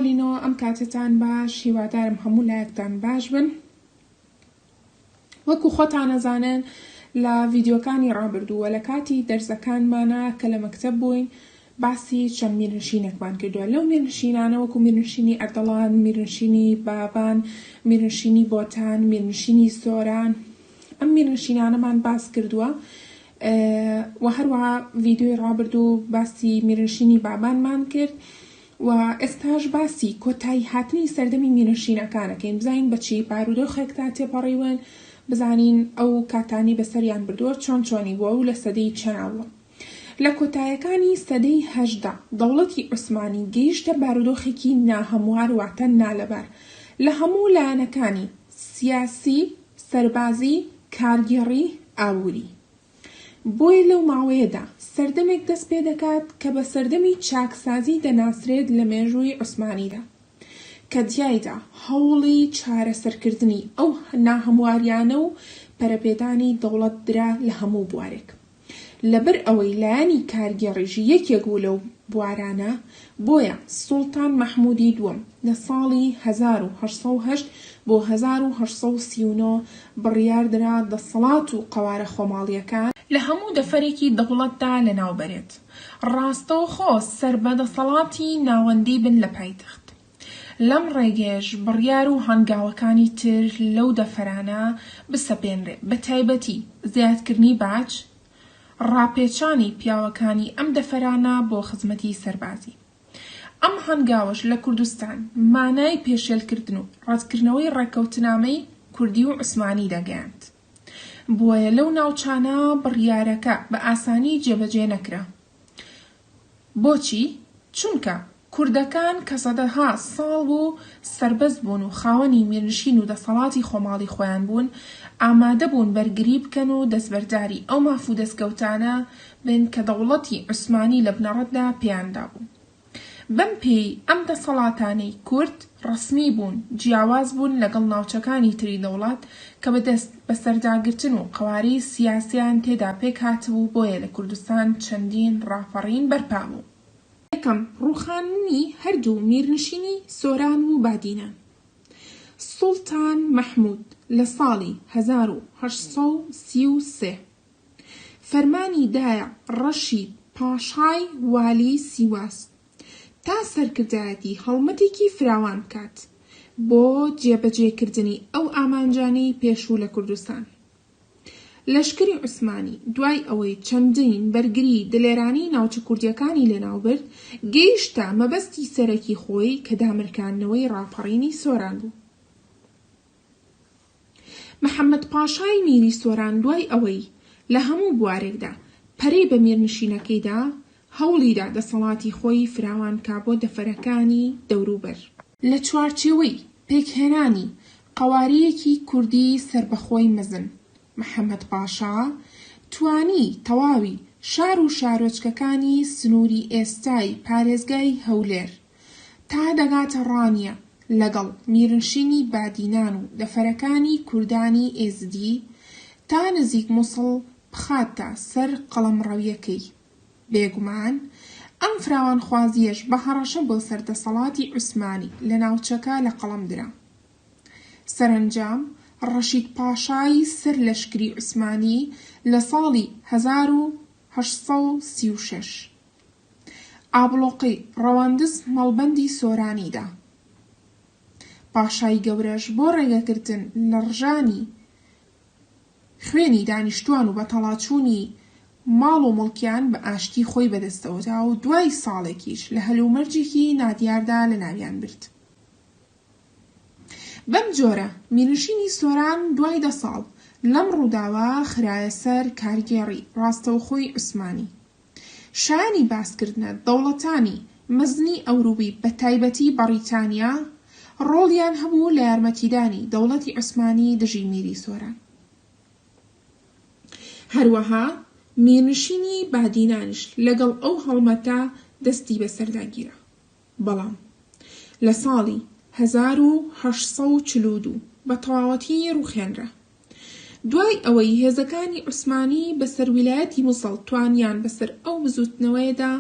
پۆلینەوە ئەم کاتەتان باش هیوادارم هەموو لایەکتان باش بن وەکو خۆتانەزانن لە ڤیددیوەکانی ڕابردووە لە کاتی دەرزەکانمانە کە لە مەکتب بووین باسی چەند میرنشینێکمان کردووە لەو میرنشینانە وەکو میرنشینی ئەردەڵان میرنشینی بابان میرنشینی بۆتان میرنشینی سۆران ئەم میرنشینانەمان باس کردووە وە هەروەها ڤیدیۆی ڕابردوو باسی میرنشینی بابانمان کرد و ئێستاش باسی کۆتایی هاتنی سەردەمی میرنشینەکان ئەکەین بزانین بە چی بارودۆخێکدا تێپەڕیون بزانین ئەو کاتانەی بەسەریان بردووە چۆن چۆنی بووە و لە سەدەی چەنا بووە لە کۆتایەکانی سەدەی هەژدە دەوڵەتی عوسمانی گەیشتە بارودۆخێکی ناهەموار واتە نالەبار لە هەموو لایەنەکانی سیاسی سەربازی، کارگێڕی، ئابووری. بۆیە لەو ماوەیەدا سەردەمێک دەست پێ دەکات کە بە سەردەمی چاکسازی دەناسرێت لە مێژووی عوسمانیدا، کە تیایدا هەوڵی چارەسەرکردنی ئەو ناهەمواریانە و پەرەپێدانی دەوڵەت درا لە هەموو بوارێک. لەبەر ئەوەی لایەنی کارگێڕیش یەکێک بوو لەو بوارانە، بۆیە سوڵتان مەحموودی دووەم لە ساڵی هەزار و هەشت سەد و هەشت بۆ هەزار و هەشت سەد و سی و نۆ بڕیار درا دەسەڵات و قەوارە خۆماڵییەکان، لە هەموو دەفرێکی دەوڵەتدا لەناو بەرێت، ڕاستەوخۆ سەربە دەسەڵاتی ناوەندی بن لە پایتەخت. لەم ڕێگەیەش بڕیار و هەنگاوەکانی تر لەو دەفرانە بسەپێنرێ، بە تایبەتی زیادکردنی باج، ڕاپێچانی پیاوەکانی ئەم دەفرانە بۆ خزمەتی سەربازی. ئەم هەنگاوەش لە کوردستان مانای پێشێلکردن و ڕەتکردنەوەی ڕێککەوتنامەی کوردی و عوسمانی دەگەیاند. بۆیە لەو ناوچانە بڕیارەکە بە ئاسانی جێبەجێ نەکرا. بۆچی؟ چونکە کوردەکان کە سەدەها ساڵ بوو سەربەست بوون و خاوەنی میرنشین و دەسەڵاتی خۆماڵی خۆیان بوون، ئامادە بوون بەرگری بکەن و دەستبەرداری ئەو ماف و دەستکەوتانە بن کە دەوڵەتی عوسمانی لە بنەڕەتدا پێیان دابوو. بەم پێی ئەم دەسەڵاتانەی کورد، ڕەسمی بوون، جیاواز بوون لەگەڵ ناوچەکانی تری لە وڵات کە بە دەست بە سەرداگرتن و قەوارەی سیاسیان تێدا پێک هاتبوو بۆیە لە کوردستان چەندین ڕاپەڕین بەرپا بوو. یەکەم، ڕووخاندنی هەردوو میرنشینی سۆران و بادینان. سوڵتان مەحموود لە ساڵی هەزار و هەشت سەد و سی و سێ فەرمانی دایە ڕەشید پاشای والی سیواس تا سەرکردایەتی هەڵمەتێکی فراوان بکات بۆ جێبەجێکردنی ئەو ئامانجانەی پێشوو لە کوردستان. لەشکری عوسمانی دوای ئەوەی چەندین بەرگری دلێرانەی ناوچە کوردییەکانی لەناوبرد، گەیشتە مەبەستی سەرەکی خۆی کە دامرکاندنەوەی ڕاپەڕینی سۆران بوو. محەمەد پاشای میری سۆران دوای ئەوەی لە هەموو بوارێکدا پەرەی بە میرنشینەکەی دا، هەوڵی دا دەسەڵاتی خۆی فراوان کا بۆ دەفرەکانی دەوروبەر. لە چوارچێوەی پێکهێنانی قەوارییەکی کوردی سەربەخۆی مەزن، محەمەد پاشا توانی تەواوی شار و شارۆچکەکانی سنووری ئێستای پارێزگای هەولێر، تا دەگاتە ڕانیە لەگەڵ میرنشینی بادینان و دەفرەکانی کوردانی ئێزدی تا نزیک موسڵ بخاتە سەر قەڵەمڕەویەکەی. بێگومان ئەم فراوانخوازیەش بە هەڕەشە بۆ سەر دەسەڵاتی عوسمانی لە ناوچەکە لە قەڵەم درا. سەرەنجام ڕەشید پاشای سەر لەشکری عوسمانی لە ساڵی هەزار و هەشت سەد و سی و شەش، ئابڵۆقەی ڕەواندز مەڵبەندی سۆرانی دا. پاشای گەورەش بۆ ڕێگەگرتن لە ڕژانی خوێنی دانیشتوان و بەتەڵاچوونی ماڵ و موڵکیان بە ئاشتی خۆی بەدەستەوە دا و دوای ساڵێکیش لە هەلومەرجێکی نادیاردا لەناویان برد. بەم جۆرە مینوشینی سۆران دوای دە ساڵ لەم ڕووداوە خرایە سەر کارگێڕی ڕاستەوخۆی عوسمانی. شایانی باسکردنە دەوڵەتانی مەزنی ئەورووی بە تایبەتی بەڕیتانیا ڕۆڵیان هەبوو لە یارمەتیدانی دەوڵەتی عوسمانی دژی میری سۆران. هەروەها میرنشینی بادینانیش لەگەڵ ئەو هەڵمەتە دەستی بە سەردا گیرا. بەڵام لە ساڵی هەزار و هەشت سەد و چل و دوو بە تەواوەتی ڕووخێنرا. دوای ئەوەی هێزەکانی عوسمانی بەسەر ویلایەتی موسڵ توانیان بەسەر ئەو بزووتنەوەیەدا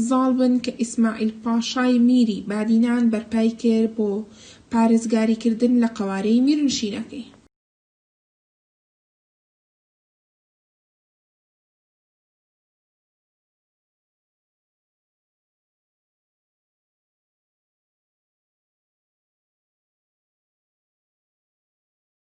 زاڵ بن کە ئیسماعیل پاشای میری بادینان بەرپای کرد بۆ پارێزگاریکردن لە قەوارەی میرنشینەکەی.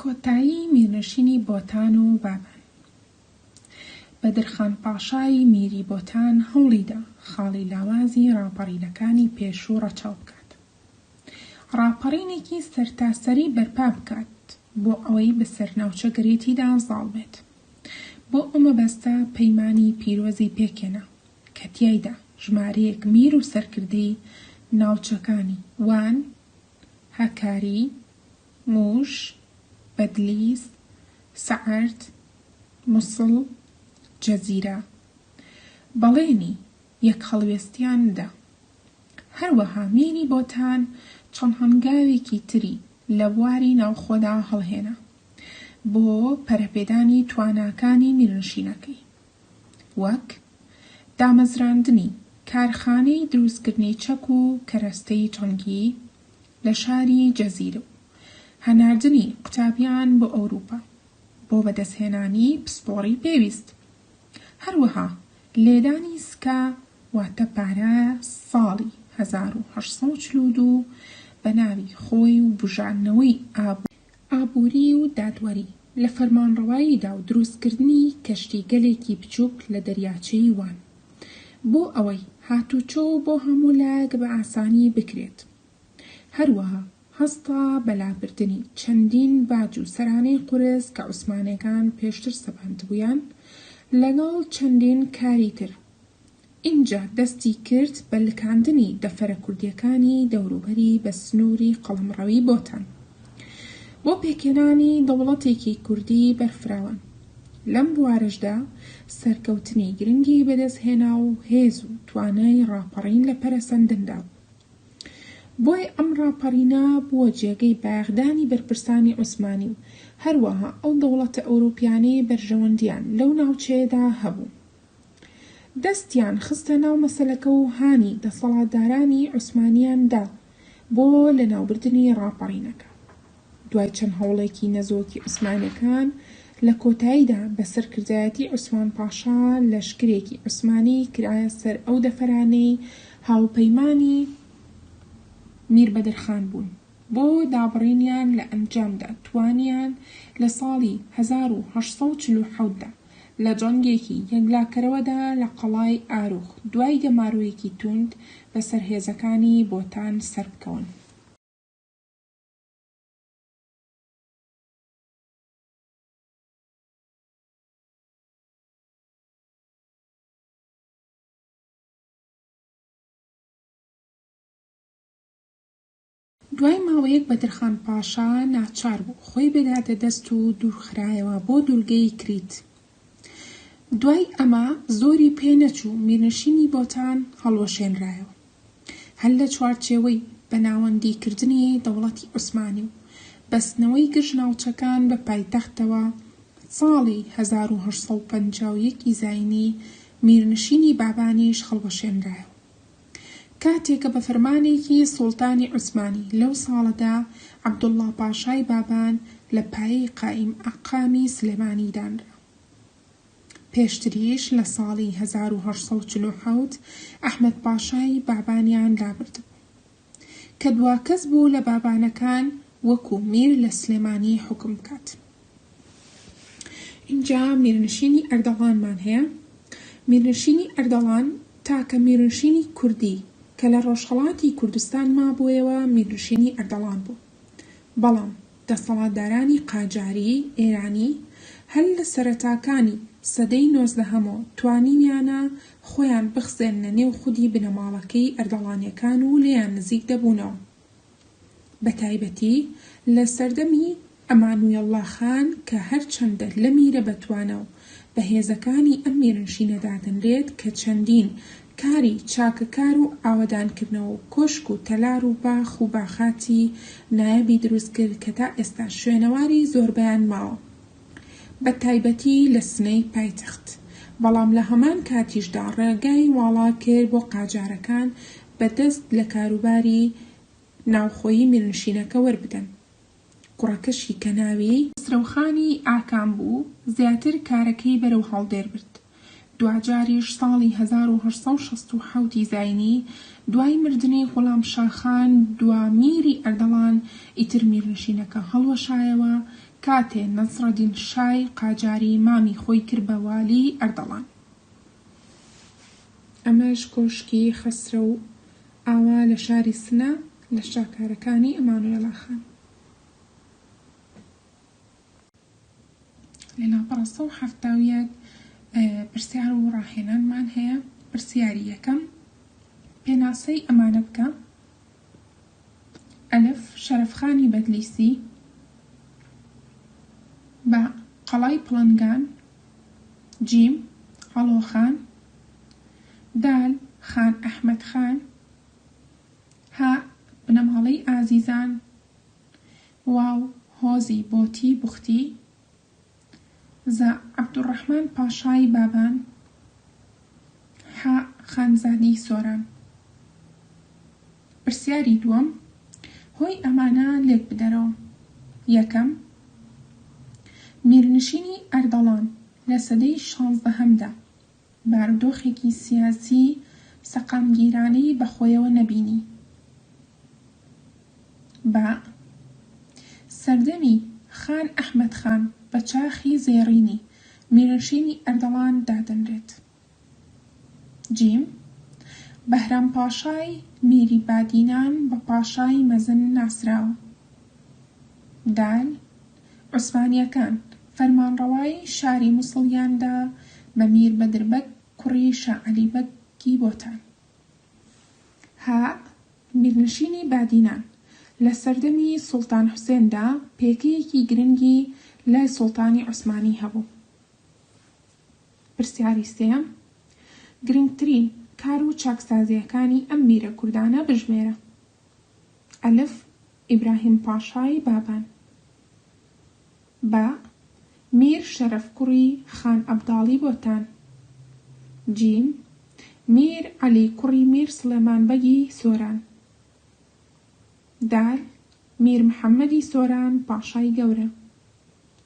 کۆتایی میرنشینی بۆتان و بابان بەدرخان پاشای میری بۆتان هەوڵیدا خاڵی لاوازی ڕاپەڕینەکانی پێشوو ڕەچاو بکات. ڕاپەڕینێکی سەرتاسەری بەرپا بکات بۆ ئەوەی بەسەر ناوچەگەرێتیدا زاڵ بێت. بۆ ئەو مەبەستە پەیمانی پیرۆزی پێکهێنا کە تیایدا ژمارەیەک میر و سەرکردەی ناوچەکانی، وان، هەکاری، مووش، بەدلیس، سەعەرد، موسڵ، جزیرە، بەڵێنی یەک هەڵوێستیان دا. هەروەها مینی بۆتان چەند هەنگاوێکی تری لە بواری ناوخۆدا هەڵهێنا بۆ پەرەپێدانی تواناکانی میرنشینەکەی، وەک دامەزراندنی کارخانەی دروستکردنی چەک و کەرەستەی جەنگی لە شاری جزیر و هەناردنی قوتابیان بۆ ئەوروپا بۆ بەدەستهێنانی پسپۆڕی پێویست. هەروەها لێدانی سکە واتە پارە ساڵی هەزار و هەشت سەد و چل و دوو بە ناوی خۆی و بوژاندنەوەی ئابووری و دادوەری لە فەرمانڕەواییدا و دروستکردنی کەشتیگەلێکی بچووک لە دەریاچەی وان بۆ ئەوەی هاتووچۆ بۆ هەموو لایەک بە ئاسانی بکرێت هەروەها هەستا بە لابردنی چەندین باج و سەرانەی قورس کە عوسمانیەکان پێشتر سەپاندبوویان لەگەڵ چەندین کاری تر ئینجا دەستی کرد بە لکاندنی دەفرە کوردیەکانی دەوروبەری بە سنوری قەڵەمڕەوی بۆتان بۆ پێکهێنانی دەوڵەتێکی کوردی بەرفراوان لەم بوارەشدا سەرکەوتنی گرنگی بەدەست هێنا و هێز و توانای ڕاپەڕین لە پەرەسەندندا بۆی ئەم ڕاپەڕینە بووە جێگەی بایەخدانی بەرپرسانی عوسمانی و هەروەها ئەو دەوڵەتە ئەوروپیانەی بەرژەوەندیان لەو ناوچەیەدا هەبوو دەستیان خستە ناو مەسەلەکە و هانی دەسەڵاتدارانی عوسمانیان دا بۆ لەناوبردنی ڕاپەڕینەکە. دوای چەند هەوڵێکی نەزۆکی عوسمانیەکان، لە کۆتاییدا بە سەرکردایەتی عوسمان پاشا لەشکرێکی عوسمانی کرایە سەر ئەو دەفرانەی هاوپەیمانی میر بەدرخان بوون بۆ دابڕینیان لە ئەنجامدا توانیان لە ساڵی هەزار و هەشت سەد و چل و حەوت دا لە جەنگێکی یەکلاکەرەوەدا لە قەڵای ئاروخ دوای گەمارۆیەکی توند بەسەر هێزەکانی بۆتان سەربکەون. دوای ماوەیەک بەدرخان پاشا ناچار بوو خۆی بداتە دەست و دوورخرایەوە بۆ دوورگەی کریت، دوای ئەمە زۆری پێ نەچوو میرنشینی بۆتان هەڵوەشێنرایەوە هەر لە چوارچێوەی بەناوەندیکردنی دەوڵەتی عوسمانی و بەستنەوەی گشت ناوچەکان بە پایتەختەوە ساڵی هەزار و هەشت سەد و پەنجا و یەک ی زاینی میرنشینی بابانیش هەڵوەشێنرایەوە. کاتێک بە فەرمانێکی سوڵتانی عوسمانی لەو ساڵەدا عەبدوڵڵا پاشای بابان لە پایەی قائیم ئەقامی سلێمانی دانرا. پێشتریش لە ساڵی هەزار و هەشت سەد و چل و حەوت ئەحمەد پاشای بابانیان لابردبوو، کە دواکەس بوو لە بابانەکان وەکوو میر لە سلێمانی حوکم بکات. ئینجا میرنشینی ئەردەڵانمان هەیە، میرنشینی ئەردەڵان تاکە میرنشینی کوردی کە لە ڕۆژهەڵاتی کوردستان مابوویەوە میرنشینی ئەردەڵان بوو، بەڵام دەسەڵاتدارانی قاجاریی ئێرانی هەر لە سەرەتاکانی سەدەی نۆزدەهەمۆ توانیویانە خۆیان بخزێننە نێو خودی بنەماڵەکەی ئەردەڵانیەکان و لێیان نزیک دەبوونەوە. بەتایبەتی لە سەردەمی ئەمانوێڵڵا خان کە هەرچەندە لە میرە بەتوانا و بەهێزەکانی ئەم میرنشینە دادەنرێت کە چەندین کاری چاکەکار و ئاوەدانکردنەوە و کۆشک و تەلار و باخ و باخاتی نایابی دروست کرد کە تا ئێستا شوێنەواری زۆربەیان ماوە بە تایبەتی لە سنەی پایتەخت بەڵام لە هەمان کاتیشدا ڕێگای واڵا کرد بۆ قاجارەکان بە دەست لە کاروباری ناوخۆیی میرنشینەکە وەربدەن. کوڕەکەشی کە ناوی. خەسرەوخانی ئاکام بوو، زیاتر کارەکەی بەرەو هەڵدێر برد. دواجاریش ساڵی هەزار و هەشت سەد و شەست و حەوت ی زاینی، دوای مردنی غوڵامشا خان دوا میری ئەردەڵان، ئیتر میرنشینەکە هەڵوەشایەوە، کاتێ نەسڕەدین شای قاجاری مامی خۆی کرد بە والیی ئەردەڵان. ئەمەش کۆشکی خەسرەو ئاوا لە شاری سنە لە شاکارەکانی ئەمانوێڵا خان. لەناو پانزدە و حەفتا و یەک پرسیار و ڕاهێنانمان هەیە پرسیاری یەکەم پێناسەی ئەمانە بکە ئەلف شەرەفخانی بەدلیسی با قەڵای پڵنگان جیم، عەڵۆ خان. دال، خان ئەحمەد خان. هاء، بنەماڵەی ئازیزان. واو، هۆزی بۆتی بوختی. زا، عەبدولڕەحمان پاشای بابان. حاء، خانزادی سۆران. پرسیاری دووەم هۆی ئەمانە لێک بدەرەوە یەکەم، میرنشینی ئەردەڵان لە سەدەی شانزدەهەمدا بارودۆخێکی سیاسی سەقامگیرانەی بە خۆیەوە نەبینی بە سەردەمی خان ئەحمەد خان بە چاخی زێڕینی میرنشینی ئەردەڵان دادەنرێت. جیم، بەهرام پاشای میری بادینان بە پاشای مەزن ناسراوە. دال، عوسمانییەکان فەرمانڕەوایی شاری موسڵیان دا بە میر بەدر بەگ کوڕی شا عەلی بەگی بۆتان. هاء، میرنشینی بادینان لە سەردەمی سوڵتان حوسێن دا پێگەیەکی گرنگی لای سوڵتانی عوسمانی هەبوو. پرسیاری سێیەم، گرنگترین کار و چاکسازییەکانی ئەم میرە کوردانە بژمێرە. ئەلف، ئیبراهیم پاشای بابان. باء، میر شەرەف کوڕی خان ئەبداڵی بۆتان. جیم، میر عەلی کوڕی میر سڵێمان بەگی سۆران. دال، میر محەممەدی سۆران پاشای گەورە.